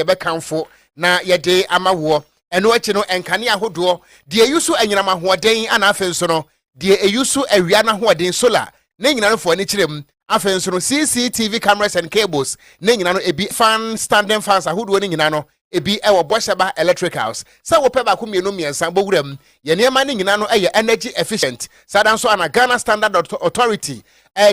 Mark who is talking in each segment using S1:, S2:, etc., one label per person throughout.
S1: yɛbɛkamfo na yɛde ama woɔ. Ɛno akyi no, nkanea ahodoɔ, deɛ ɛyi so anyinam ahoɔden ana afei nso no, deɛ ɛyi so awia no ahoɔden, solar, ne nyina no fa w'ani kyerɛ mu. Afei nso no, CCTV cameras and cables ne nyina no, ebi fan, standing fans ahodoɔ no nyina no, ebi wɔ Bɔhyɛba Electricals. Sɛ wopɛ baako mmienu mmiɛnsa bɔ wura mu. Yɛn nneɛma no nyina no yɛ energy efficient. Saa da nso ana Ghana Standard Authority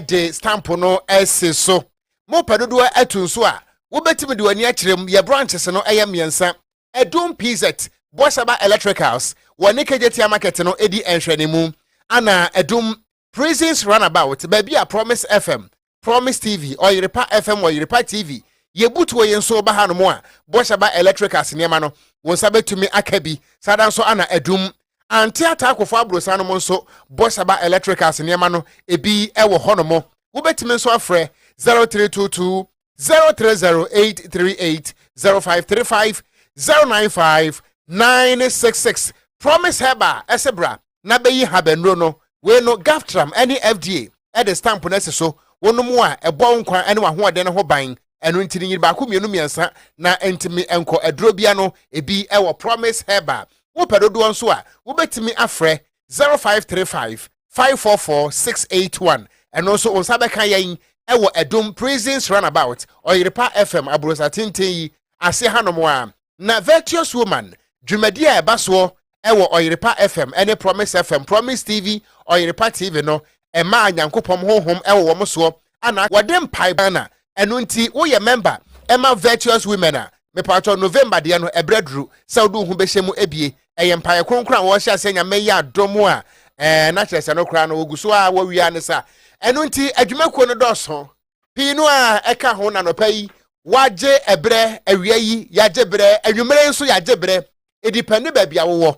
S1: de stamp no asi so. mopɛ dodoɔ atu nso a, wobɛtumi de w'ani akyerɛ mu. Yɛ branches no yɛ mmiɛnsa, Adum PZ, Boasaba Electricals, wɔ ne Kejetia Market no di nhwɛanimu, ana Adum, Prisons Runabout, baabi a Promise FM, Promise TV, Ɔyerepa FM, Ɔyerepa TV, Yebutuo yi nso ba hanom a, Boasaba Electricals nneɛma no, wo nsa bɛtumi aka bi. Saa ara nso ana Adum, ante ataakofo aborosan nom nso bɔ Saba Electricals nneɛma no ebi wɔ hɔnom. Wobɛtumi nso afrɛ 0322 030838 0535 095 966 Promise Herbal ɛse bra na bɛyi habannuro no wei no GAFTRAM ne FDA ɛde stamp no asi so wonom a ɛbɔ wo nkwa ne w'ahoɔden no ho ban ɛno nti no nyiri baako mmienu mmiɛnsa na ntumi nkɔ aduro bia no ebi ɛwɔ promise herbal wopɛ dodoɔ nso a wobɛtumi afrɛ 0535 544 681 ɛno nso wo nsa bɛka yɛn ɛwɔ ɛdom prisons runabout ɔyerepa fm aburosa tenten yi ase hanom a na virtuous woman dwumadi a ɛba soɔ wɔ Ɔyerepa FM ne Promise FM, Promise TV, Ɔyerepa TV no mmaa Nyankopɔm honhom wɔ wɔn soɔ ana wɔde mpaebɔ Ghana ɛno nti woyɛ mɛmba ma Virtuous Women a mepaatɔ November deɛ no ɛberɛ aduru sɛ wode wo ho bɛhyɛ mu abie ɛyɛ mpaeɛ kronkron a wɔhyɛ aseɛ nyame yɛ adom a ɛɛ na kyerɛ sɛ no koraa no wɔgu so a wɔwia ne sa ɛno nti adwumakuo no dɔɔso pii no ara ɛka ho nanɔpa yi wagye ɛberɛ awia yi yagye berɛ anwummere nso yagye berɛ edipɛ ne baabi a wowɔ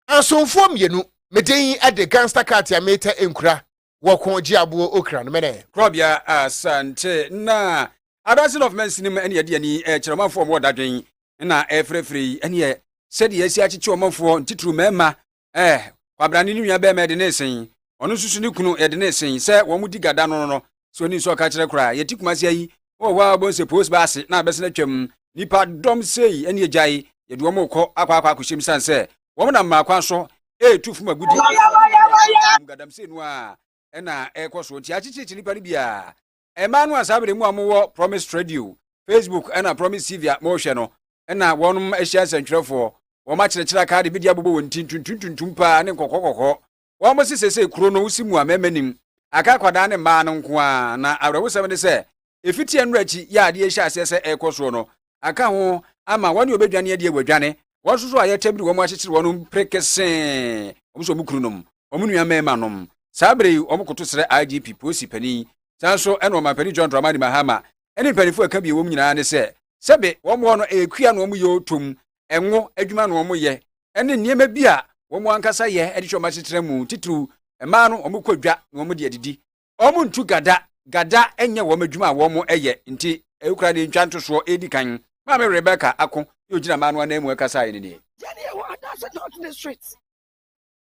S1: ansomfoɔ mmienu me din de gangster cat a metɛ nkura wɔko gye aboɔ okra no mene. Korɔbea Asante
S2: na Adanseni of Mansinim ɛne ɛde ani ɛkyerɛ ɔmanfoɔ a wɔwɔ dadwen na ɛfrɛfrɛ yi ɛneɛ sɛdeɛ yɛasi akyekye ɔmanfoɔ ntitiriw mmarima Ɛɛ, kwabena ne ne nua bɛrima yɛde no resen. Ɔno nso so ne kunu yɛde no resen. Sɛ wɔn di gada no no, sɛ ɔni nso ɔka kyerɛ koraa. Yɛte Kumasi ha yi, wowɔ hɔ a wobɛhu sɛ post baa ase na abɛsen atwam. Nnipa dɔm sei ne agyae yɛde wɔn rekɔ akɔ akɔ akɔhyɛm sane sɛ wɔn nam mmaa kwan so ɛretu fam agudi ɛwɔ wɔn asaase no mu. Gadamsey no ara ɛna ɛrekɔ so nti akyekyerekye nnipa no biara. Mmaa no a saa bere mu a wɔwɔ Promise Radio, Facebook na Promise TV a wɔhwɛ no na wɔnom ahyia nsɛntwerɛfoɔ. Wɔn akyerɛkyerɛ a kaade bedi abobɔ wɔn ti ntuntum ntuntum paa ne nkɔkɔɔ kɔkɔɔ. Wɔn se sesei kuro no wosi mu a mmarima nnim. Aka akwadaa ne mmaa no nko ara na awerɛhosɛm ne sɛ efitiɛ nnora akyi yi a adeɛ rehyɛ aseɛ sɛ ɛrekɔ soɔ no aka ho ama wɔne ɔbɛdwane adeɛ wɔadwane wɔn soso a yɛtɛm de wɔn akyekyere wɔn mpere kesee wɔn so wɔn kununom wɔn nua mmarima nom saa bere yi wɔn koto srɛ IGP polisi panin saa nso ɛna ɔmampanin John Dramani Mahama ɛne mpanimfoɔ ɛka bi wɔn nyinaa ne sɛ sɛbe wɔn hɔ no ɛyɛ kua na wɔn yɛ otom ɛnwo adwuma na wɔn yɛ ɛne nneɛma bi a wɔn ankasa yɛ ɛde hyɛ wɔn asetra mu titiriw mmaa no wɔn kɔ dwa na wɔn de adidi wɔn ntu gada gada nyɛ wɔn adwuma a wɔyɛ nti ɛkura ne ntwa ntosoɔ ɛredi kan maame rebecca ako ne ogyina maa no anan mu ɛkasaeɛ ne nie yɛne yɛwɔ anaasɛ
S3: north district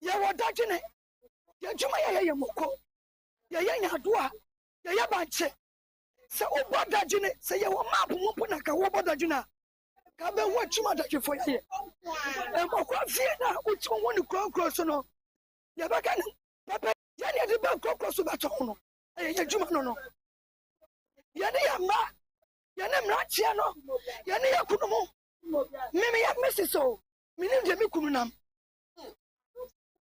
S3: yɛwɔ dadwene yɛadwuma yɛyɛ yɛ moko yɛyɛ nyadoa yɛyɛ bankye sɛ wobɔ dadwene sɛ yɛwɔ map mu mpo na ka wobɔ dadwene a ka bɛhu akyim adadwefo yɛyɛ mmɔkora fie no a wotumi hu no kurɔnkurɔ so no yɛbɛka no pɛpɛ yɛn na yɛde ba nkorɔkorɔ so bɛtɔ ho no ɛyɛ yɛn adwuma no no yɛne yɛn mma yɛne mmeranteɛ no yɛne yɛn kunu mu meme yɛ mesi so menim deɛ me kunu nam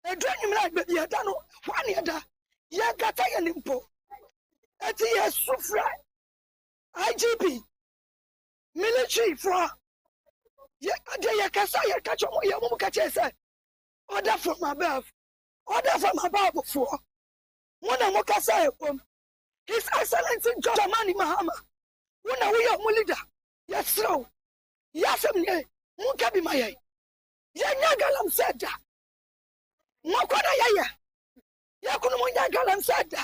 S3: ɛdu anwummerɛ a baabi ɛda no hɔ a ne ɛda yɛnkata yɛne mpo ɛti yɛsu frɛ igp militaryfoɔ deɛ yɛkasa yɛka kyɛ ɔmo yɛ ɔmo mu ka kyerɛ sɛ order from above Ɔda fam abɔfoɔ, mo na mo kasa ɛwom. His Excellency John Dramani Mahama, wo na wo yɛ ɔmo leader, yɛsrɛ wo, yɛ asɛm nie, mo nka bi ma yɛn. Yɛn nyɛ galamsey da. Mako na yɛyɛ, yɛn kunu mo nyɛ galamsey da.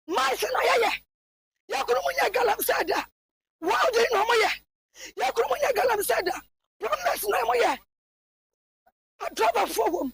S3: Maize na yɛyɛ, yɛn kunu mo nyɛ galamsey da. Welding na ɔmo yɛ, yɛn kunu mo nyɛ galamsey da. Plumbers na ɔmo yɛ, adrɔbafoɔ wom.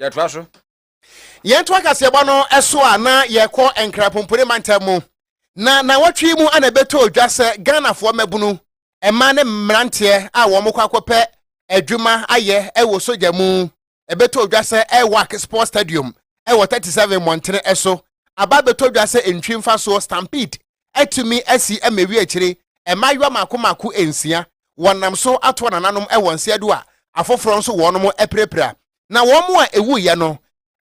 S2: yɛtoa so. Yɛntoa
S1: kaseɛbɔ no so a na yɛkɔ Nkrapompore mantam mu, na nnawɔtwe yi mu na ɛbɛtɔɔ dwa sɛ Ghanafoɔ mmabunu, mmaa ne mmeranteɛ a wɔkɔ akɔpɛ adwuma ayɛ wɔ sogya mu ɛbɛtɔɔ dwa sɛ Airwac Sports Stadium wɔ 37 mmɔntene so aba abɛtɔ dwa sɛ ntwi mfasoɔ Stampede atumi asi mmɛwi akyire mmaayewa mako mako nsia, wɔnam so atoa nananom wɔ nseɛ do a afoforɔ nso wɔnom apirapira. Na wɔn a ɛwuiɛ no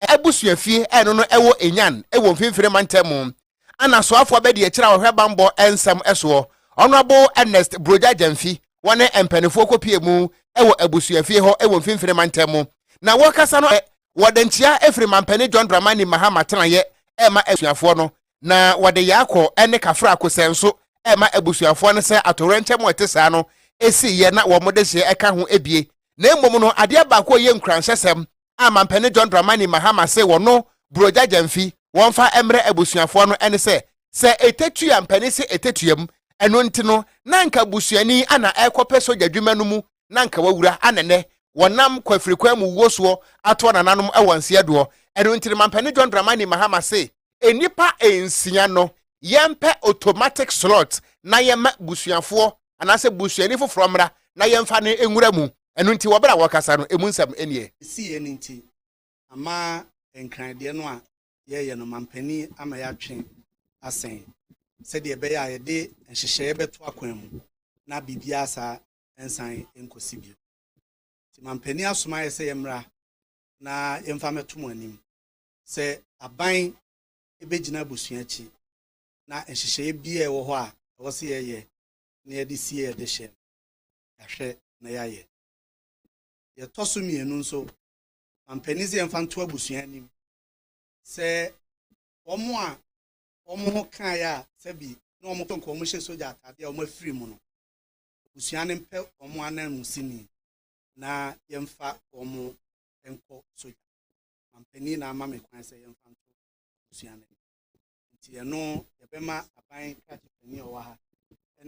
S1: abusuafie ɛno no ɛwɔ Enyan wɔ Mfimfini Mantam mu. Ana soafoɔ abɛdiakyire a ɔhwɛ bammɔ nsɛm soɔ, Honourable Ernest Brogya Gyamfi, wɔne mpaninfoɔ kɔpie mu wɔ abusuafie hɔ wɔ Mfimfini Mantam mu. Na wɔrekasa no wɔde nkyea firi Mampanin John Dramani Mahama tenaeɛ rema asuafoɔ no na wɔde Yaakɔ ne Kafra Kosɛ nso rema abusuafoɔ no sɛ atowerɛnkyɛm a ɛte saa no siiɛ na wɔn dehyeɛ ka ho bie. Na mmom no, adeɛ baako a ɛyɛ nkuranhyɛsɛm a Mampanin John Dramani Mahama se wɔno Buroja Gyamfi wɔmfa mmrɛ abusuafoɔ no ne sɛ, sɛ ɛtɛtua mpanin se ɛtɛtuam, ɛno nti no na anka busuani a na ɛrekɔpɛ sogya adwuma no mu na anka wawura a na nnɛ wɔnam kwafirikwan mu wuo soɔ ato anananom wɔ nseɛdoɔ. Ɛno nti no Mampani John Dramani Mahama se, Nnipa nsia no yɛmpɛ automatic slot na yɛmma busuafoɔ anaasɛ busuani foforɔ mmra na yɛmfa no nwura mu. Ɛno nti wɔ berɛ a wɔrekasa no ɛmu nsɛm nie. Ɛsiiɛ no nti
S4: ama Nkran deɛ no a yɛreyɛ no Mampani ama yɛatwe asɛn sɛdeɛ ɛbɛyɛ a yɛde nhyehyɛeɛ bɛto akwan mu na biribiara saa nsan nkɔsi bio. Nti mampanin asoma yɛ sɛ yɛmmra na yɛmfa mmɛto mo anim sɛ aban bɛgyina abusua akyi na nhyehyɛeɛ bi a ɛwɔ hɔ a ɛwɔ sɛ yɛyɛ na yɛde sie yɛde hyɛ no, yɛahwɛ na yɛayɛ. Yɛtɔ so mmienu nso, mampanin sɛ yɛmfa nto abusua anim sɛ wɔn a wɔn ho kaeɛ a sɛbi na wɔn kɔnkɔn wɔn hyɛ sogya ataadeɛ a wɔn afiri mu no, abusua no mpɛ wɔn ananmu sini na yɛmfa wɔn nkɔ sogya mampanin na ama me kwan sɛ yɛmfa nto abusua no nti ɛno yɛbɛma aban krakye panin a ɔwɔ ha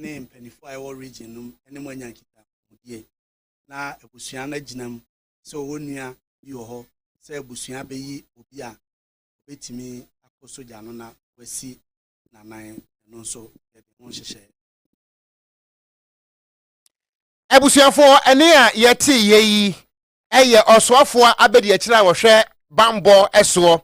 S4: ne mpanimfoɔ a ɛwɔ region no ne mo anya nkitahodie na abusua no agyina mu sɛ ɔwɔ nua bi wɔ hɔ sɛ abusua bɛyi obi a ɔbɛtumi akɔ sogya no na wasi nanan ɛno nso yɛde ho nhyehyɛe
S1: abusuafoɔ ɛne a yɛte yɛ yi ɛyɛ ɔsoafoɔ abadiakyire a wɔhwɛ bambɔ ɛsoɔ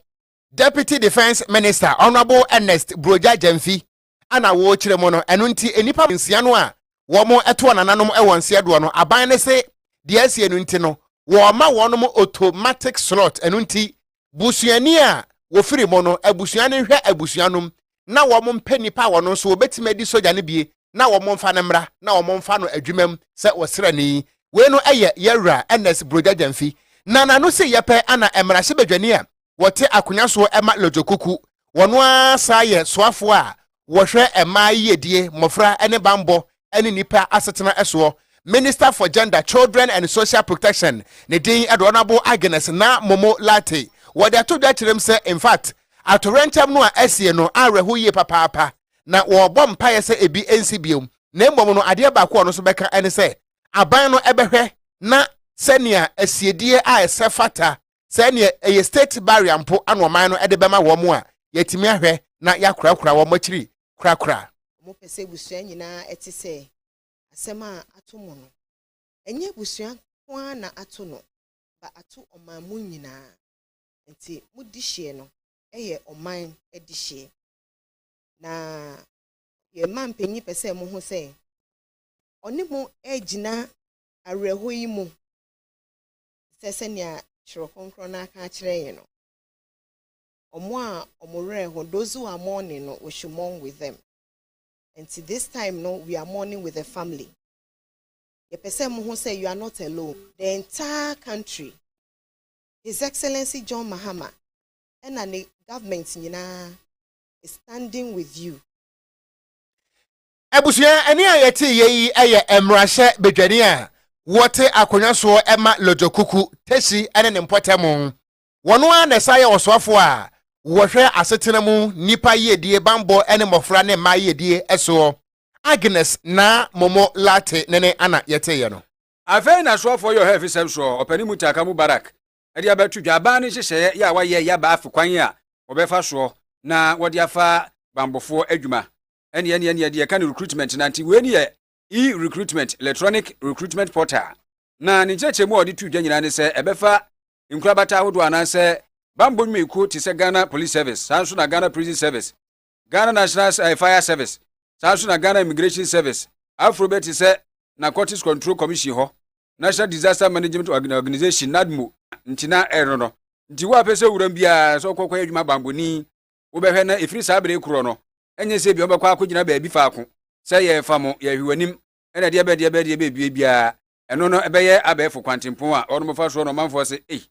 S1: deputy defence minister honourable ernest broja gyamfi ana wɔrekyerɛ mu no ɛno nti nnipa nsia no a wɔn ɛtoɔ nananom ɛwɔ nseɛ doɔ no aban no se deɛ asie no nti no wɔma wɔn automatic slot ɛno nti busuani a wɔfiri mu no abusua no nhwɛ abusua nom na wɔn mpɛ nnipa a wɔn nso wɔbɛtumi adi sogya no bie na wɔn mfa no mmra na wɔn mfa no adwuma mu sɛ ɔsrani. Wei no yɛ yɛn wura Ernest Brogya Gyamfi na n'ano se yɛ pɛ ana mmarahyɛbadwani a wɔte akonya soɔ ma Lodzokuku. Wɔn ara saa yɛ soafoɔ a wɔhwɛ mmaa yiyedie, mmɔfra ne banbɔ ne nnipa asetena soɔ, Minister for Gender, Children and Social Protection, ne din de Honourable Agnes Naa Momo Lartey, wɔde ato dwa kyerɛm sɛ in fact atoyerɛnkyɛm no a asie no awerɛho yie papaapa na wɔrebɔ mpaeɛ sɛ ebi nsi bio na mmom no adeɛ baako a ɔno nso bɛka ne sɛ aban no bɛhwɛ na sɛnea asiedie a ɛsɛ fata sɛ neɛ ɛyɛ state barrier mpo ana ɔman no de bɛma wɔn a, yɛatumi ahwɛ na yɛakorakora wɔn akyiri korakora. Wɔpɛ sɛ abusua
S5: nyinaa te sɛ asɛm a ato mo no. Ɛnyɛ abusua nko ara na ato no ba ato ɔman mu nyinaa. Enti mo dehyeɛ no yɛ ɔman dehyeɛ. Na yɛn manpanyin pɛ sɛ moho sɛ ɔne mo regyina awerɛhɔ yi mu. sɛ sɛnea Kyerɛw Kronkron no aka akyerɛ yɛn no, Wɔn a wɔn werɛ ho, those who are mourning no, we should mourn with them. Nti this time no, we are mourning with the family. Yɛpɛ sɛ mohu sɛ you are not alone. The entire country, His Excellency John Mahama ɛna ne government nyinaa is standing with you. Abusua
S1: ɛne a yɛte yɛ yi yɛ mmarahyɛ badwani a wɔte akonnwa soɔ ma Lodjo Kuku, Tesi ne ne mpɔtamu. Wɔn ara na ɛsan yɛ ɔsoafoɔ a wɔhwɛ asetena mu nnipa yiedie, bammɔ ne mmɔfra ne mmaa yiedie soɔ. Agnes Naa Momo Lartey ne ne ana yɛteeɛ no. Afei na soafoɔ
S2: yɛ ɔhɛfisɛm soɔ ɔpanin mu taaka mu barak de abɛto dwa. Aban no nhyehyɛeɛ yɛ a wɔayɛ yɛ aba afe kwan a wɔbɛfa soɔ na wɔde afa bammɔfoɔ adwuma Ɛne ɛne ɛne ɛde ɛka no recruitment na nti wei ne yɛ e-recruitment electronic recruitment portal na ne nkyerɛkyerɛmu a ɔde tu dwa nyinaa ne sɛ ɛbɛfa nkorabata ahodoɔ anaasɛ bammɔ nnwumayɛkuo te sɛ Ghana Police Service saa nso na Ghana Prison Service Ghana National eh, Fire Service saa nso na Ghana Immigration Service aforo bɛ te sɛ Narcotics Control Commission hɔ National Disaster Management Organization NADMO nti na ɛno no nti wo a pɛ sɛ wuram biara sɛ wokɔkɔyɛ adwuma bammɔni wobɛhwɛ na ɛfiri saa bere korɔ no, ɛnyɛ sɛ ebia wobɛkɔ akɔgyina baabi faako sɛ yɛrefa mo, yɛrehwe w'anim, ɛna deɛ bɛ deɛ bɛ deɛ bɛdue biara, ɛno no ɛbɛyɛ abɛɛfo kwantempɔn a wɔnom fa soɔ no ɔmanfoɔ se, ei,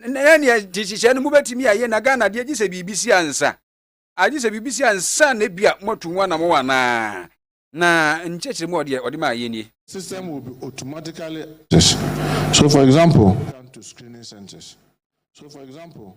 S2: na neɛ te hyehyɛ no mobɛtumi ayɛ na Ghana deɛ gye sɛ biribi si ansa agye sɛ biribi si ansa na ebia moatu ho anamɔ anaa na nkyɛkyerɛ mu ɔdeɛ ɔde maa yɛ nie. system will be
S6: automatically so for example to screening centers so for example.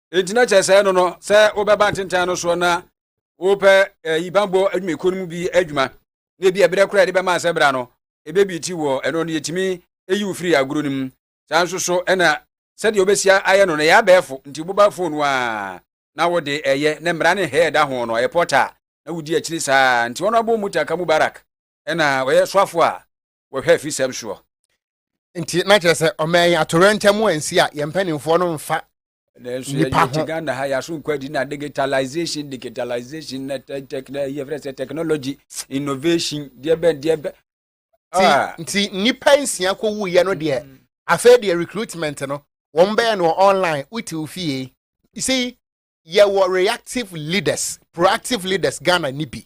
S2: enti na kyerɛ sɛ no no sɛ wobɛba ntentan no soɔ na wopɛ ɛyi eh, banbɔ adwumayɛkuo no mu bi adwuma na ebi ɛberɛ koraa yɛde bɛma asɛ bra no ɛbɛbi ti wɔ ɛno no yɛtumi ɛyi wo firi agorɔ no mu saa nso so ɛna sɛdeɛ wobɛsia ayɛ no no ɛyɛ abɛɛfo nti wobɛba fon no a na wode ɛyɛ na mmara ne hɛɛ da ho no ɛyɛ pɔta na wodi akyiri saa nti wɔn abɔ mu taka mubarak ɛna ɔyɛ soafo a wɔhwɛ afisɛm soɔ nti
S1: na kyerɛ sɛ ɔma yɛn atorɛntɛm ansi a yɛn mpanimfoɔ no mfa nanso yɛyɛ
S2: te ghana ha yɛaso nkwadi na digitalization digitalization na yɛfrɛ sɛ technology innovation deɛ bɛn deɛ bɛn ah.
S1: nti nnipa nsia kɔwuiɛ no deɛ mm. afei deɛ recruitment no wɔn bɛyɛ no online wote wo fie you see yɛwɔ reactive leaders proactive leaders ghana ni bi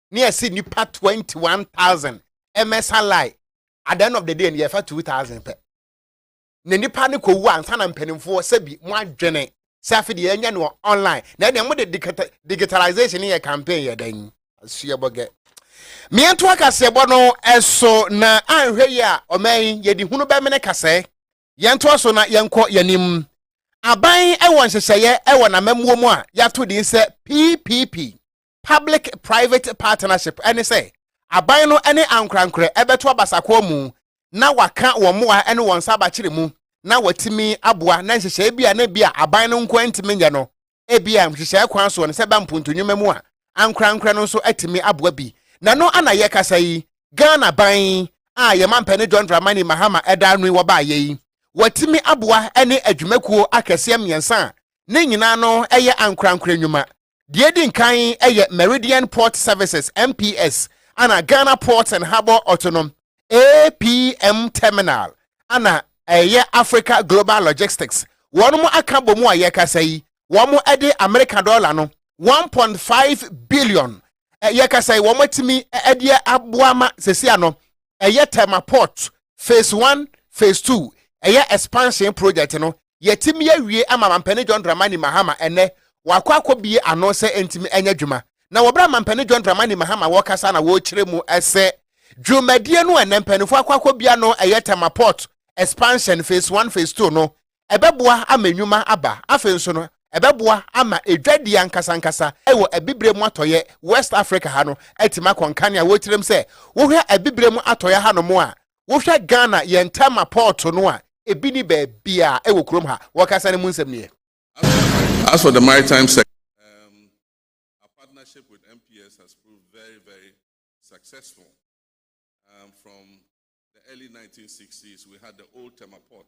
S1: ne yɛse nipa 21000 mmɛsa line at the end of the day no yɛfa 2000 pɛ na nipa no kɔwu ansa na mpanimfoɔ sɛbi mo adwene sɛ afe deɛ yɛnyɛ no online na ɛdeɛ mode digitalization yɛ campaign yɛ dɛn asuabɔgɛ mmeɛnto akaseɛbɔ no ɛso na anhwɛ yi a ɔman yɛde hunu bɛmene kasɛɛ yɛntoa so na yɛnkɔ yɛnim aban ɛwɔ nhyehyɛeɛ ɛwɔ n'amammuo mu a yɛato din sɛ ppp public-private partnership ne sɛ aban no ne ankorankorɛ bɛto abasakoa mu na wɔaka wɔn mmoa ne wɔn nsa abakyere mu na wɔatumi aboa na nhyehyɛe bi a na ebia aban no nko ara ntumi nyɛ no, ebia nhyehyɛe kwan so no sɛ ɛba mpontunwuma mu a, ankorankorɛ no nso atumi aboa bi. Na ɛno a na yɛkasa yi, Ghana ban a yɛn mampanin John Dramani Mahama da ano yi wɔbaeɛ yi, wɔatumi aboa ne adwumakuo akɛseɛ mmiɛnsa a ne nyinaa no yɛ ankorankorɛ nnwuma Deɛ edi nkan yɛ Meridian Port Services, MPS, ana Ghana Ports and Harbour Autonom, APM, Terminal, ana ɛyɛ Africa Global Logistics. Wɔn mo aka bɔ mu a yɛkasa yi, wɔn de Amerika dɔla no one point five billion yɛkasa yi, wɔn atumi de aboa ma sɛsi ano ɛyɛ Tema Port Phase One, Phase Two, ɛyɛ expansion project no, yɛatumi awie ama Mampanin John Dramani Mahama ɛnnɛ wɔakɔ akɔbue ano sɛ ɛntumi ɛnyɛ dwuma. Na wɔ berɛ a Mampanin John Dramani Mahama wɔkasa na wɔkyerɛ mu sɛ dwumadie no a ɛnnɛ mpaninfoɔ akɔ akɔbue ano ɛyɛ Tema Port Expansion Phase One, Phase Two no, Ɛbɛboa ama nnwuma aba. Afei nso no, ɛbɛboa ama dwadie ankasankasa wɔ abibire mu atɔeɛ, West Africa ha no, atumi akɔ nkanea. Wotirim sɛ wohwɛ abibire mu atɔeɛ hanom a, wohwɛ Ghana yɛn Tema pɔɔto no a, ebi nni baabiara wɔ kurom ha. Wɔkasa no mu nsɛm nie. As
S7: for the maritime sector, um, our partnership with MPS has proved very, very successful. Um, from the early 1960s, we had the old Tema port.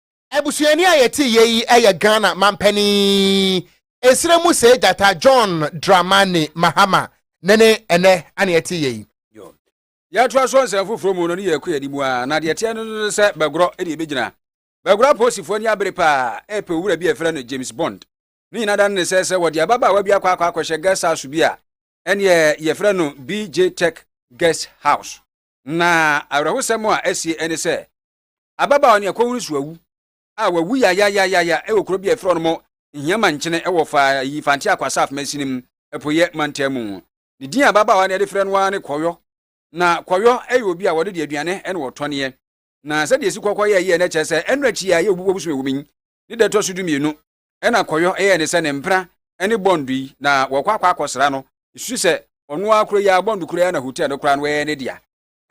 S1: Abusuani a yɛte yɛ yi yɛ Ghana mampanin Nsra mu Sɛɛ Gyata John Dramani Mahama ne ne ɛnɛ ana yɛte yɛ yi.
S2: Yɛtoa so nsɛm foforɔ mu no ne yɛkɔ yɛn anim ara, na deɛ ɛteɛ no no sɛ Bɛgorɔ ne ɛbɛgyina. Bɛgorɔ apolisifoɔ ani abere paa repɛ owura bi a yɛfrɛ no James Bond. Ne nyinaa da no ne sɛ sɛ wɔde ababaawa bi akɔ akɔ akɔhyɛ guest house bi a, ɛneɛ yɛfrɛ no BJ Tech Guest House. Na awerɛhosɛm a asie ne sɛ Ababaawa no yɛ Kowuru Suawu a wawu yayayayaya wɔ kuro bi a ɛfrɛ no Nhiama Nkyene wɔ fa yi Fante Akwa Saf Masinim Apueɛ Mantam mu. Ne din a ababaawa no yɛde frɛ no ara ne Kɔyɔ. Na Kɔyɔ yɛ obi a wɔde de aduane na wɔtɔneɛ. Na sɛdeɛ ɛsi Kɔkɔ yɛ yie no kyerɛ sɛ ɛno akyi a ɛyɛ obubuo bosom ɛwɔ mu yi ne da ɛtɔ so dumienu ɛna Kɔyɔ yɛɛ ne sɛ ne mpena ne bɔndo yi na wɔkɔ akɔ akɔsra no. Ɛsusu sɛ ɔno ara koro yi ara bɔndo koro yi ara na hotel no koraa no ɛyɛ ne dea.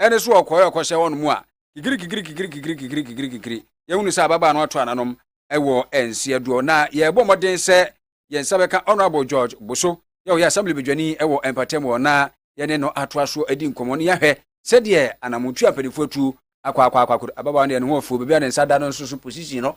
S2: ɛne so ɔkɔɛ ɔkɔhyɛ wɔn mu a, kikiri kikiri kikiri kikiri kikiri kikiri kikiri, yɛhunu sɛ ababaa no ato ananom wɔ nseɛ doɔ. Na yɛrebɔ mmɔden sɛ yɛn nsa bɛka Honourable George Boso, yɛ ɔyɛ Assembly badwani wɔ Mpatam hɔ, na yɛne no atoa so adi nkɔmmɔ na yɛahwɛ sɛdeɛ anamontuo a mpanimfoɔ atu akɔ akɔ akɔ akɔ. Ababaa no deɛ ne ho afuo, baabi a ne nsa da no nso so position no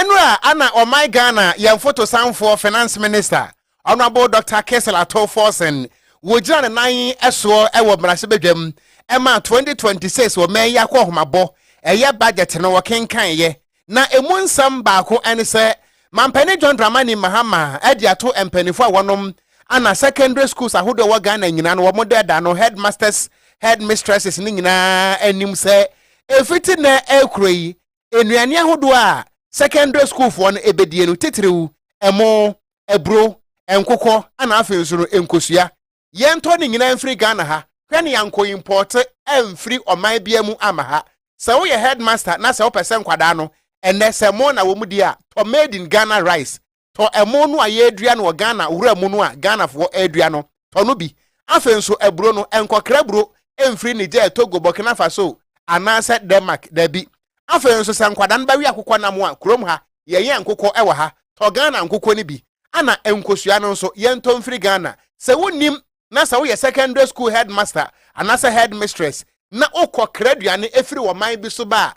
S1: Ɛno a ana ɔman Ghana yɛn fotosanfoɔ Finance Minister Honourable Doctor Kessel Ato Forson wɔgyina ne nan soɔ wɔ mmarahyɛbadwam ɛma 2026 ɔman yi akɔhomabɔ ɛyɛ budget no wɔkenkaneɛ na ɛmu nsɛm baako ɛne sɛ Mampanin John Dramani Mahama ɛde ato mpaninfoɔ a wɔnom ana secondary schools ahodoɔ wɔ Ghana nyinaa no wɔn dɛ da no headmasters headmistresses no nyinaa anim sɛ ɛfiti nɛ ɛkuro yi Nnuane ahodoɔ a sɛkɛndre sukuufoɔ no bɛdie no titiriw ɛmo, aburo, nkokɔ ɛna afei nso no nkosua. Yɛntɔ ne nyinaa mfiri Ghana ha, hwɛ nea nkɔimpɔɔte amfiri ɔman biara mu amma ha. Sɛ woyɛ headmaster na sɛ wopɛ sɛ nkwadaa no ɛnnɛ sɛ mo na wɔn di a tɔ made in Ghana rice tɔ ɛmo no a yɛredua no wɔ Ghana wura mu no a Ghanafoɔ redua no, tɔ no bi. Afei nso aburo no, nkɔkra aburo mfiri Niger, Togo, Burkina Faso anaasɛ Denmark, dabi. Afei nso sɛ nkwadaa no bɛwe akokɔ nam a, kurom ha, yɛyɛn nkokɔ wɔ ha, tɔ Ghana nkokɔ no bi. Ɛna nkosua no nso, yɛntɔ mfiri Ghana. Sɛ wonnim na sɛ woyɛ secondary school headmaster anaasɛ headmistress na wokɔkra aduane firi ɔman bi so ba a,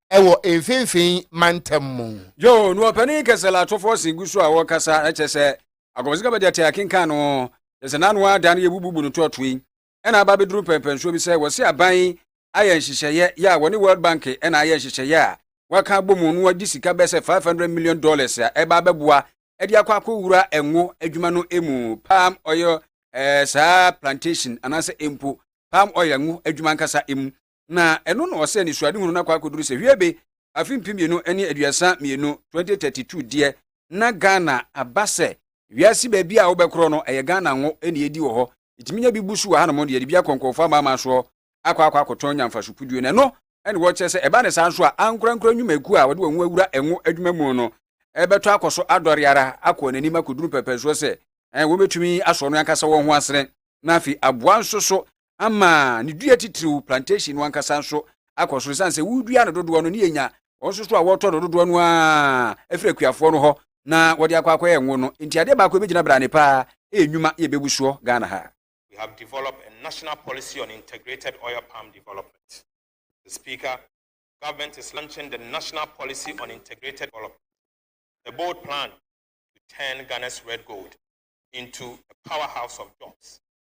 S1: ɛwɔ mfimfini mantam mu. Joe, no ɔpanin
S2: kɛse Latofo se gu so a ɔrekasa, kyerɛ sɛ akɔmhyɛ kaba deɛ te akenkan no ho, kyerɛ sɛ n'ano ara da no yɛbububu no toatoe, ɛna aba abɛduru mpɛmpɛnsoɔ bi sɛ wɔse aban yi ayɛ nhyehyɛeɛ yɛ a wɔne World Bank ɛna ayɛ nhyehyɛeɛ a wɔaka abɔ mu no wɔde sika bɛyɛ sɛ 500 million dollars a ɛba abɛboa ɛde akɔ akɔwura ɛngo adwuma no mu palm oil ɛɛ saa plantation anaasɛ mpo palm oil ngo adwuma ankasa mu na ɛno na ɔsɛ anisoadehunu no akɔ akɔduru sɛ hwiebe afe mpem mmienu ne aduasa mmienu, 2032 deɛ na Ghana aba sɛ wiase baabi a wobɛkorɔ no ɛyɛ Ghana ngo na yɛdi wɔ hɔ, yɛtumi nya bi bu so wɔ hanom de yɛde bi akɔ nkorɔfoɔ amanaman soɔ akɔ akɔ akɔtɔn nya mfasokuduo na ɛno na wɔkyerɛ sɛ ɛba ne saa nso a ankorankora nnwumakuo a wɔde wɔn ho awura ngo adwuma mu no ɛbɛtɔ akɔ so adɔre ara akɔ wɔn anim akɔduru pɛpɛsoɔ sɛ wɔbɛtumi asɔ no ankasa wɔn ho asene na afei aboa nso so ama ne dua titiriw plantation no ankasa nso akɔ so esiane sɛ wodua no dodoɔ no ne yɛnya wɔn nso so a wɔtɔ no dodoɔ no a ɛfiri akuafoɔ no hɔ na wɔde akɔ akɔyɛ ngo no nti adeɛ baako ɛbɛgyina brane paa ɛyɛ nnwuma yɛ bɛbu soɔ Ghana ha. We have developed
S8: a national policy on integrated oil palm development. The Speaker, Government is launching the national policy on integrated development, a bold plan to turn Ghana's red gold into a powerhouse of jobs.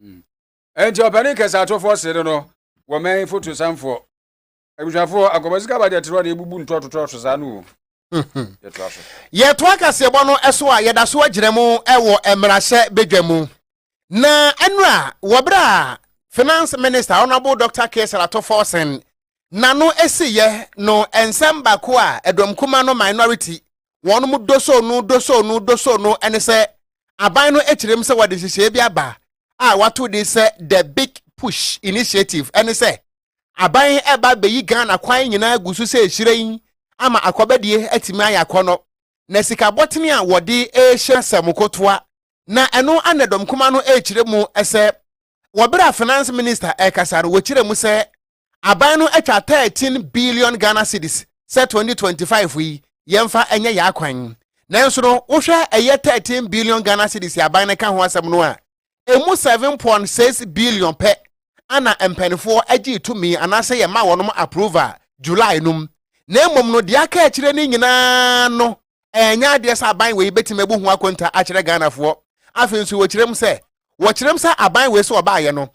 S2: Hmm. Enti ɔpanin kɛse atɔfoɔ sere no wɔ mɛn foto sanfoɔ. Abusuafoɔ akɔbɔ sika ba deɛ terɔ deɛ ebubu ntɔtotɔ so saa no o. Yɛtoa
S1: so. Yɛtoa kaseɛbɔ no so a yɛda so agyina mu wɔ mmarahyɛ badwa mu. Na ɛnora wɔ berɛ a Finance Minister Honourable Dr. Caesar Ato Forson n'ano esiiɛ no nsɛm baako a ɛdɔm kuma no minority wɔnom dosoo no dosoo no dosoo no ne sɛ aban no kyerɛm sɛ wɔde nhyehyɛeɛ bi aba a wɔato din sɛ The Big Push Initiative ɛne sɛ aban ɛba bɛyi Ghana kwan nyinaa gu so sɛ hyerɛn ama akɔbɛdeɛ atumi ayɛ akɔnɔ na sika bɔtene a wɔde rehyɛ sɛ mokotoa na ɛno ana dɔmkoma no rekyerɛ mu sɛ wɔ bere a Finance Minister rekasa no, wɔkyerɛɛ mu sɛ aban no atwa 13 billion Ghana cedis sɛ 2025 yi yɛmfa nyɛ yɛn akwan. Nanso no, wohwɛ ɛyɛ 13 billion Ghana cedis a aban no ka ho asɛm no a, emu 7.6 billion pɛ ana mpanimfoɔ gyee tumi anaasɛ yɛma wɔnom approval July no mu. Na mmom no, deɛ aka akyire no nyinaa no, Ɛnyɛ adeɛ sɛ aban wei bɛtumi abu ho akonta akyerɛ Ghanafoɔ. Afei nso wɔkyerɛ mu sɛ, wɔkyerɛ mu sɛ aban wei sɛ wɔbaeɛ no,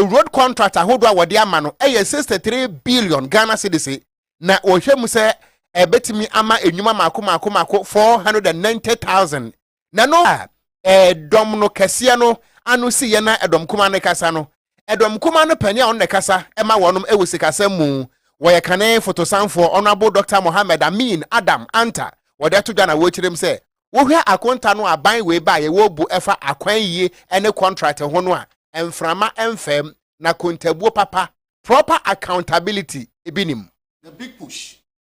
S1: road contract ahodoɔ a wɔde ama no yɛ sixty three billion Ghana cedis, na wɔhwɛ mu sɛ ɛbɛtumi ama nnwuma mmaako mmaako mmaako four hundred and ninety thousand na no a ɛdɔm no kɛseɛ no ano si yɛ na ɛdɔm kuma no kasa no, ɛdɔm kuma no panin a ɔno na ɛkasa ma wɔn wɔ sikasɛm mu, wɔyɛ kane fotosanfoɔ Honourable Doctor Mohammed Amin Adam Anta, wɔde ato dwa na wɔrekyerɛ mu sɛ wohwɛ akonta no a ban wei baeɛ wɔrebu ɛfa akwan yie ne kɔntrate ho no a mframa mfam na kontabuo papa, proper accountability, bi nim. The Big Push,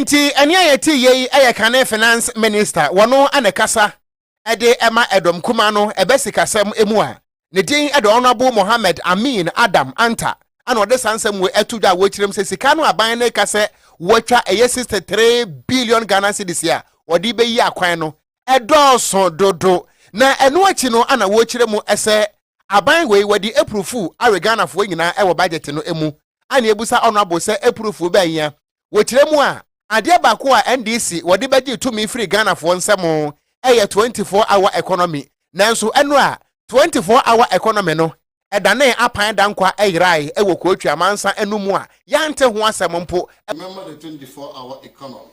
S1: nti ɛne a yɛte yie yi yɛ kane finance minister wɔno na ɛkasa de ɛma ɛdɔm kuma no ɛbɛ sikasɛm mu a ne din de honourable mohammed amin adam anta ana ɔde saa nsɛm wɔ ɛto dwa a wɔkyerɛm sɛ sika no aban no ka sɛ wɔatwa ɛyɛ 63 billion ghana cedis a wɔde bɛyi akwan no ɛdɔɔso dodo, na ɛno akyi no ana wɔrekyerɛ mu sɛ aban wei wɔde apurufu awe Ghanafoɔ nyinaa wɔ budget no mu, ana yɛbisa Honourable sɛ apurufu bɛn hia? Wɔkyerɛ mu a, adeɛ baako a NDC wɔde bɛgyee tumi firii Ghanafoɔ nsam yɛ 24 hour economy, nanso ɛno a 24 hour economy no danee apan dankwa yeraeɛ wɔ Kootwi amansan no mu a yɛante ho asɛm mpo. Remember the 24
S9: hour economy.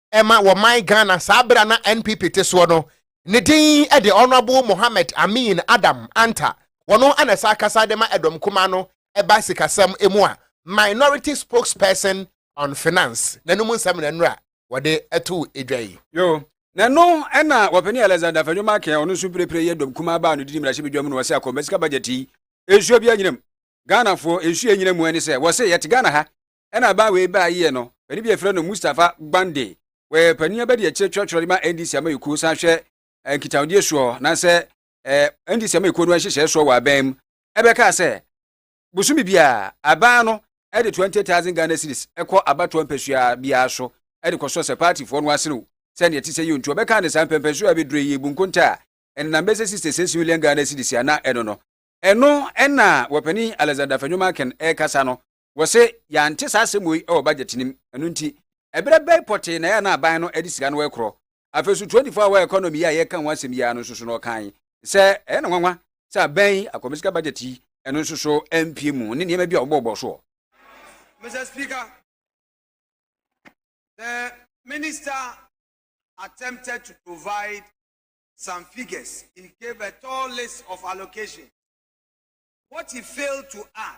S1: ɛma wɔ man Ghana saa bere a na NPP te soɔ no, ne din de Honourable Mohammed Amin Adam Anta, ɔno na ɛsan kasa de ma Ɛdɔm Kumaa no ɛba sikasɛm mu a Minority Spokesperson on Finance, n'anom nsɛm na nnora wɔde too dwa yi. Yoo, na ɛno
S2: na Wɔpanin Alexander Afenyo Markin a ɔno nso mprepre yɛ Ɛdɔm Kumaa baa no didi mmarahyɛbadwa mu no ɔse akɔmba sika budget yi, nsuo biara nnyina mu. Ghanafoɔ, nsuo a ɛnyina mu ne sɛ, wɔse yɛte Ghana ha Ɛna abaa wei baa yeɛ no, panin bi a yɛfrɛ no Mustafa Gbande, wɔyɛ panin abɛdi akyire twerɛtwerɛ de ma NDC amayɛkuo san hwɛ eh, nkitahodie soɔ nansɛ eh, NDC amayɛkuo no nhyehyɛɛ soɔ wɔ aban mu, ɛbɛkaa sɛ bosome biara aban no ɛde 20,000 Ghana cedis ɛkɔ abatoɔ mpasua biara so ɛde kɔsɔ sɛ paatifoɔ no aserew sɛ neɛ ɛte sɛ yio nti wɔbɛkaa ne saa mpɛmpɛ so a ɛbɛdure yi ebu nkonta a ɛnenam bɛsɛ 66 million Ghana cedis ana ɛno no ɛno ɛna wɔpanin Alexander Afenyo Markin ɛrekasa no Wɔse yɛante saa asɛm wei wɔ budget no mu, ɛno nti ɛberɛ bɛn pɔtee na ɛyɛ a na aban no de sika no rekorɔ? Afei nso tuodifo a ɔwɔ economy yi a yɛreka ho asɛm yi ara no nso so no ɔkae sɛ ɛyɛ no nwanwa sɛ aban yi akɔmisika budget yi ɛno nso so ampue mu ne nneɛma bi a wɔbɔɔbɔɔ so wɔ Mister
S10: Speaker, the minister attempted to provide some figures. He gave a tall list of allocations. What he failed to add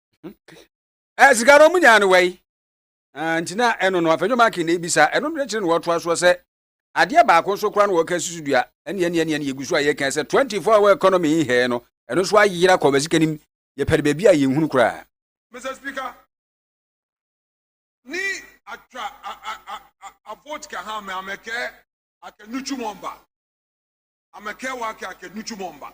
S2: ɛ sika no ɔmo nyaa no wɛyi nti na ɛno no afɛnyo maaki na ebisa ɛno no akyire na wɔtoa soɔ sɛ adeɛ baako nso koraa na wɔka susu dua ɛne ɛne ɛne ɛne yɛgu so a yɛka sɛ 24 hour economy yi hɛɛ no ɛno nso ayera kɔ bɛsika nim yɛpɛde baabi a yɛnhunu koraa Mr. Speaker,
S10: ni atwa a a a a a vote ka ha me amekɛ akɛnuchu mɔmba amekɛ wa kɛ akɛnuchu mɔmba.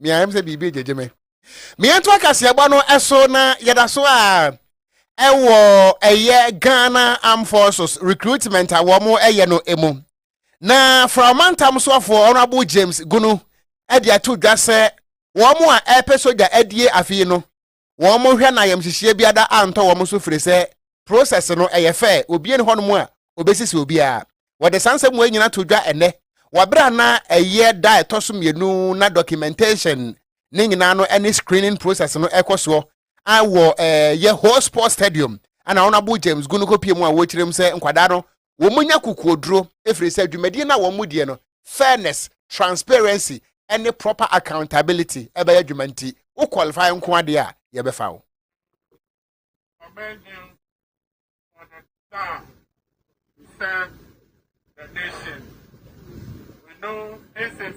S1: me ayɛ sɛ biribi gyegye me meyɛnto akaseɛbɔ no ɛso na yɛda so a ɛwɔ ɛyɛ ghana armed forces recruitment a wɔn ɛyɛ no emu na fra ɔmantam soɔfoɔ honorable james gunu ɛde ato dwa sɛ wɔn a ɛpɛ sogya adie afei no wɔn mo hwɛ na ayamhyehyeɛ biada antɔ wɔn so firi sɛ process no ɛyɛ fɛ obie ne hɔnom a obesisi obiara wɔde saa nsɛm wei nyina to dwa ɛnɛ wɔabrɛ a na ɛyɛ da ɛtɔ so mmienu na documentation ne nyinaa no ɛne screening process no ɛkɔ soɔ a wɔ ɛɛ yɛ whole sports stadium ɛna wɔn abo James gu no kɔpie mu a wɔkyerɛ mu sɛ nkwadaa no wɔnya kokoɔduro ɛfiri sɛ dwumadie no a wɔn mu deɛ no fairness transparency ɛne proper accountability ɛbɛyɛ adwuma nti wo qualify nko adeɛ a yɛbɛfa wo serve the
S11: nation. We know this is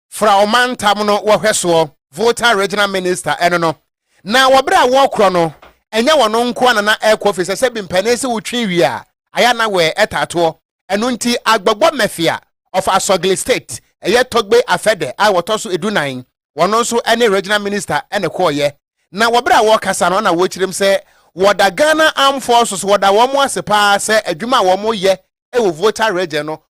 S1: Fra ɔmantam no wɔhwɛsoɔ, Volta Regional Minister, ɛno no, na wɔ berɛ a wɔrekorɔ no, ɛnyɛ wɔn nko ara na na ɛrekɔ firi sɛ sɛbi mpanin se wotwe wie a, ayɛ a na wɛɛ ɛtaa toɔ. Ɛno nti Agbogbɔ Mafia of Asogli State, ɛyɛ Togbe Afɛdɛ a wɔtɔ so edu nan, wɔn nso ne Regional Minister na ɛkɔeɛ. Na wɔ berɛ a wɔrekasa no na wɔrekyerem sɛ wɔda Ghana Armed Forces, wɔda wɔn ase pa ara sɛ adwuma a wɔreyɛ wɔ Volta Region no,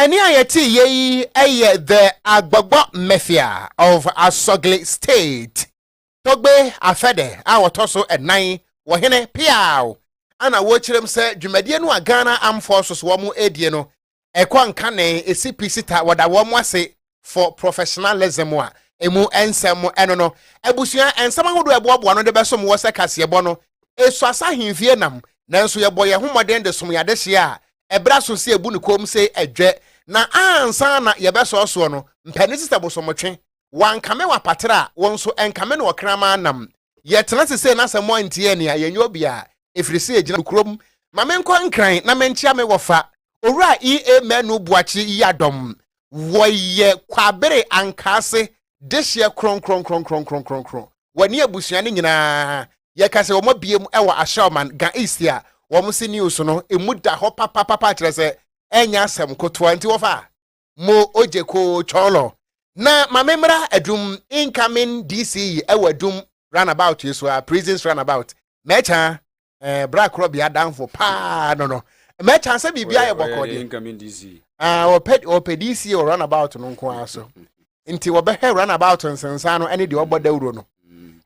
S11: Ɛnne
S1: a yɛteeɛ yi yɛ The Agbagba Mafia of Asogli State, Togbe Afede a wɔtɔ so nnan wɔ hene Peaw a na wɔkyerɛm sɛ dwumadie no a Ghana Armed Forces wɔn ɛredie no ɛkɔ nkanee ɛsi pi sita wɔda wɔn ase for professionalism a emu nsɛm mu ɛno no abusua nsɛm ahodoɔ ɛboaboa no de bɛsom wɔ sɛ kaseɛbɔ no esu asa ahemfie nam nanso yɛbɔ yɛn ho mmɔden de som yɛn adehyeɛ a ɛbrɛ aso sɛ ebu ne kɔn sɛ ɛdwɛ na ansa na yɛbɛsɔɔ soɔ no mpani sista bosomotwe wankame wapatra a wɔn nso ɛnkame no ɔkraman nam Yɛtena ase sɛ na sɛ moantie anni a, yɛnyɛ obi a, ɛfiri sɛ yɛgyina nokorɛm. Ma menkɔ Nkran na menkyea me wɔfa, Owura E. A. Manu Boakye Yiadom. Wɔyɛ Kwabere Ankaase dehyeɛ kronkronkronkronkronkron. Wɔne abusua no nyinaa, yɛka sɛ wɔabue mu wɔ Ashaiman, Ga East a wɔn se news no mu da hɔ papapapa kyerɛ sɛ ɛnyɛ asɛm kotoa nti wɔfa a. mo ogyeko chɔlɔ na mame mmra adum incoming dc ɛwɔ adum runabout yi so a prisons runabout mɛkya ɛɛ bra korɔ bea danfo paa no no mɛkya sɛ biribi ayɛ bɔkɔ deɛ incoming dc
S2: ah ɔpɛ ɔpɛ
S1: dc wɔ runabout no nko ara so nti wɔbɛhwɛ runabout nsensan no ɛne deɛ ɔbɔ dawuro no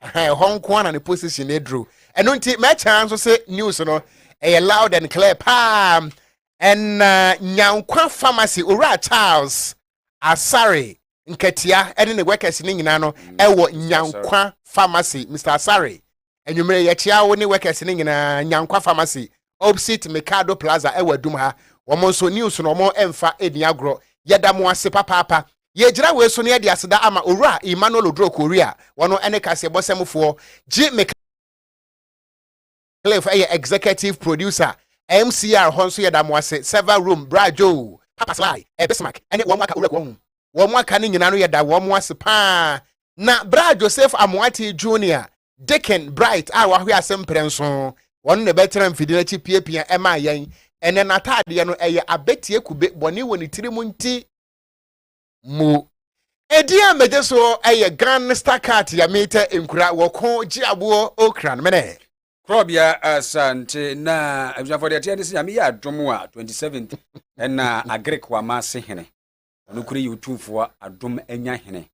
S1: ɛhɔ nko ara na ne position aduru ɛno nti mɛkya nso sɛ news no ɛyɛ loud and clear paa. Ɛnna Nyankwa Pharmacy Owura Charles Asare Nkatia ne ne workers no nyinaa no wɔ Nyankwa Pharmacy. Mister Asare, anwummere yɛkyea wo ne workers no nyinaa Nyankwa Pharmacy opposite Mikado Plaza wɔ Adum ha. Wɔn nso news no wɔmfa nni agorɔ. Yɛda mo ase papaapa. Yɛgyina wei so na yɛde aseda ama Owura Emmanuel Oduro Korea, wɔn ne kaseɛbɔsɛmfoɔ, gye me ka. Cliff yɛ executive producer, MCR hɔ nso yɛ da mo ase, Server Room, Bra Joe, Papa Sly, Bismarck ne wɔn aka Owura Kuahum. Wɔn aka no nyinaa no yɛ da wɔn ase pa ara. Na Bra Joseph Amoatey Junior, Dicken Bright a wahwe ase mprɛnson, ɔno na ɛbɛtena mfidie no akyi piapia maa yɛn. Ɛnnɛ n'ataadeɛ no, ɛyɛ abɛtie kube, bɔne wɔ ne tiri mu nti. mu. Edin a megye so yɛ Gangsta Cat yɛ meetɛ nkura wɔ ko gye aboɔ okra no mene. Korɔbea
S2: Asante na abusuafoɔ deɛ ɛteɛ ne sɛ nyame yɛ adom a 27th ɛna Agric wama ase hene ɔno kure yɛ otumfoɔ adom anya hene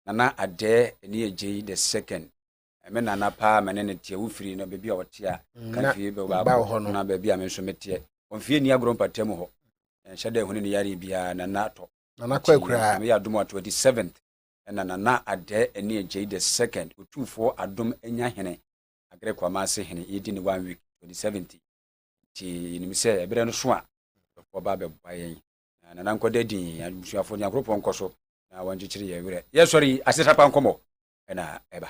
S2: nana adɛɛ ɛne ɛgyei the second me nana paa me ne no teɛ wofiri no baabi a ɔte a mm, ka fie bɛbaakɔ na baabi a me nso meteɛ ɔmfie nni agorɔ mpata mu hɔ ɛnhyɛ dɛ ɛho ne ne yare biara nana atɔ nana kɔ akuraa
S1: meyɛ adom a 27th
S2: ɛna nana adɛ ɛne agyei the second otumfoɔ adom anya hene agrɛ kwama ase hene yɛdi ne one week 27th nti yɛnim sɛ ɛberɛ no so a bɛfoɔ ba bɛboa yɛn nana nkɔda din abusuafoɔ nyankoropɔn nkɔ so na wɔnkyekyere yɛ werɛ yɛsɔre yi asetapa nkɔmmɔ ɛna ɛba